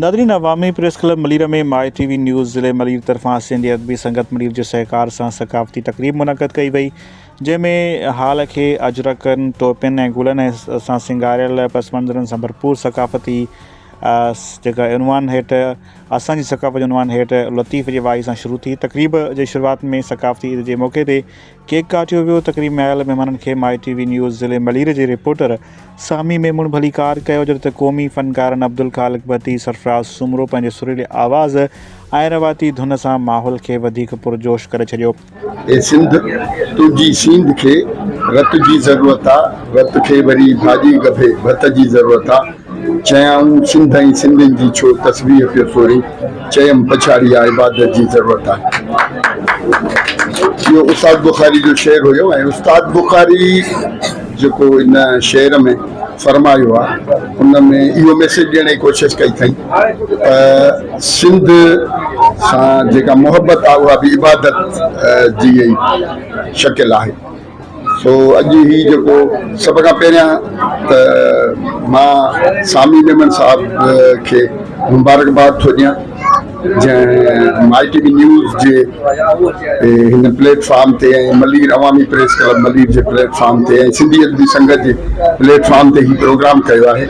ناظرين عوامي press club Malir ۾ My ٽي وي نيوز ضلعي ملير طرفان سنڌي ادبي سنگت ملير جي سهڪار سان ثقافتي تقريب منعقد ڪئي وئي جنهن ۾ هال کي اجرڪن، ٽوپين ۽ گلن سان سينگاريل پس منظرن سان ڀرپور ثقافتي جيڪا عنوان هيٺ اسان جي ثقافت جي عنوان هيٺ لطيف جي وائي سان شروع ٿي تقريب جي شروعات ۾ ثقافتي عيد جي موقعي تي ڪيڪ ڪاٽيو ويو، تقريب ۾ آيل مهمانن کي مائي ٽي وي نيوز ضلعي ملير جي رپورٽر سامي ميمڻ ڀليڪار ڪيو جڏهن ته قومي فنڪارن عبدالخالق ڀٽي، سرفراز سومرو پنهنجي سريلي آواز ۽ رواتي ڌن سان ماحول کي وڌيڪ پرجوش ڪري ڇڏيو. اي سنڌ تنهنجي سينڌ کي رت جي ضرورت آ رت کي وري ڀاڄي ڳڀي ڀت جي ضرورت آ. چيائون سنڌ ۽ سنڌين جي ڇو تسبيح پيو ٿوري، چيم پڇاڙي آ عبادت جي ضرورت آ. اهو استاد بخاري جو شعر هيو ۽ استاد بخاري جيڪو ان شعر ۾ فرمايو آ ان ۾ اهو ميسيج ڏيڻ جي ڪوشش ڪئي ٿئين ته سنڌ سان جيڪا محبت آ اها به عبادت جي ئي شڪل آهي. سو اڄ هي جيڪو سڀ کان پهريان ته مان سامي ميمڻ صاحب کي مبارڪباد ٿو ڏيان جنهن مائي ٽي وي نيوز جي هن پليٽ فارم تي ۽ ملير عوامي پريس ڪلب ملير جي پليٽ فارم تي ۽ سنڌي ادبي سنگت جي پليٽ فارم تي هي پروگرام ڪيو آهي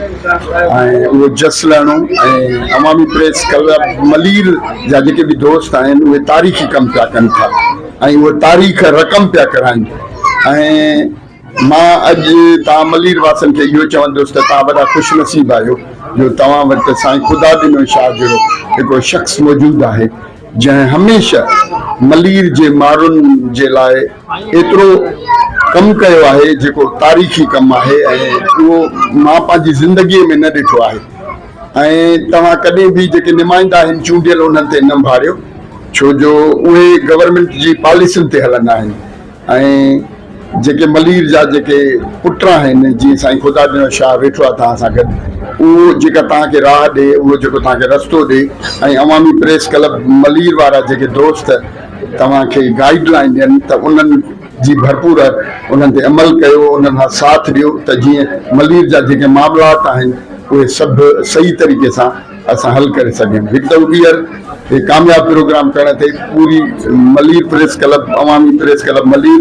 ۽ اهو جس لهڻو ۽ عوامي پريس ڪلب ملير جا جيڪي به دوست آهن اهي تاريخي ڪم پيا ڪن ٿا ۽ اهي تاريخ رقم پيا ڪرائين ۽ مان اڄ توهان ملير واسن کي اهو چوندس ته توهان وڏا خوش نصيب آهيو جو توهان وٽ سائين خدا ڏنو شاهه جهڙو هڪڙو شخص موجود آهي جنهن هميشه ملير جي مارن جي لاء ايترو ڪم ڪيو آهي جيڪو تاريخي ڪم آهي ۽ اهو مان پنهنجي زندگي ۾ نه ڏٺو آهي. ۽ توهان ڪڏهن به جيڪي نمائندا آهن چونڊيل انهن تي نه ڀاڙيو ڇو جو اهي گورنمينٽ جي پاليسين تي هلندا آهن ۽ جيڪي ملير جا جيڪي پٽ آهن جيئن سائين خدا ڏيڻو شاهه ويٺو آهي توهان سان گڏ اهو جيڪا توهان کي راهه ڏي اهو جيڪو توهان کي رستو ڏي ۽ عوامي پريس ڪلب ملير وارا جيڪي دوست توهان کي گائيڊ لائين ڏين ته انهن جي ڀرپور انهن تي عمل ڪيو، انهن سان ساٿ ڏيو ته جيئن ملير جا جيڪي معاملات آهن اهي سڀ صحيح طريقي سان اسان حل ڪري سگهيون. هڪ دفعو ٻيهر هي ڪامياب پروگرام ڪرڻ تي پوري ملير پريس ڪلب، عوامي press club Malir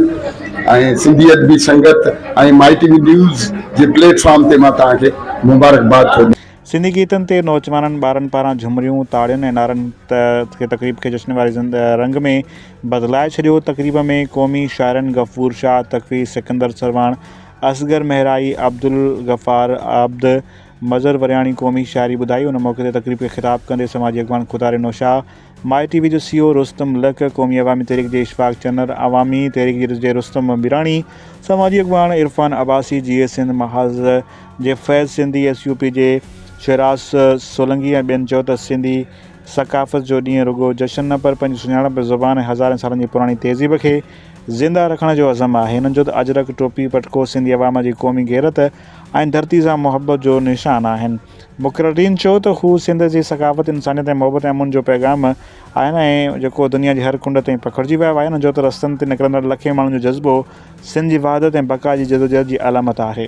۽ Sindhi Adabi Sangat ۽ My ٽي وي نيوز جي پليٽ فارم تي مان توهان کي مبارڪباد ٿو ڏيان. سنڌي گيتن تي نوجوانن ٻارن پاران جهمريون، تاڙين ۽ نعرن کي تقريب کي جشن واري رنگ ۾ بدلائي ڇڏيو. تقريب ۾ قومي شاعرن غفور شاهه تقوي، سڪندر سرواڻ، اصغر مهرائي، عبدالغفار عابد، مظهر ورياڻي قومي شاعري ٻڌائي. ان موقعي تي تقريب کي خطاب ڪندي سماجي اڳواڻ Khuda Reno Shah, my T V جو سي او رستم لڪ، قومي عوامي تحريڪ جي اشفاق چنر، عوامي تحريڪ جي رستم ميراڻي، سماجي اڳواڻ عرفان عباسي، جيئي سنڌ محاذ جي Faiz Sindhi, S U P جي شهراز سولنگي ۽ ٻين چيو ته سنڌي ثقافت جو ڏينهن رڳو جشن نه پر پنهنجي سڃاڻپ، زبان ۽ هزارين سالن جي پراڻي تهذيب کي زنده رکڻ جو عزم آهي. هنن جو ته اجرڪ، ٽوپي، پٽڪو سنڌي عوام جي قومي غيرت ۽ ڌرتي سان محبت جو نشان آهن. مقررين چيو ته هو سنڌ جي ثقافت، انسانيت ۽ محبت ۽ امن جو پيغام آهن ۽ جيڪو دنيا جي هر ڪنڊ تائين پکڙجي ويو آهي. هنن چيو ته رستن تي نڪرندڙ لکين ماڻهن جو جذبو سنڌ جي وحدت ۽ بقا جي جدوجهد جي علامت آهي.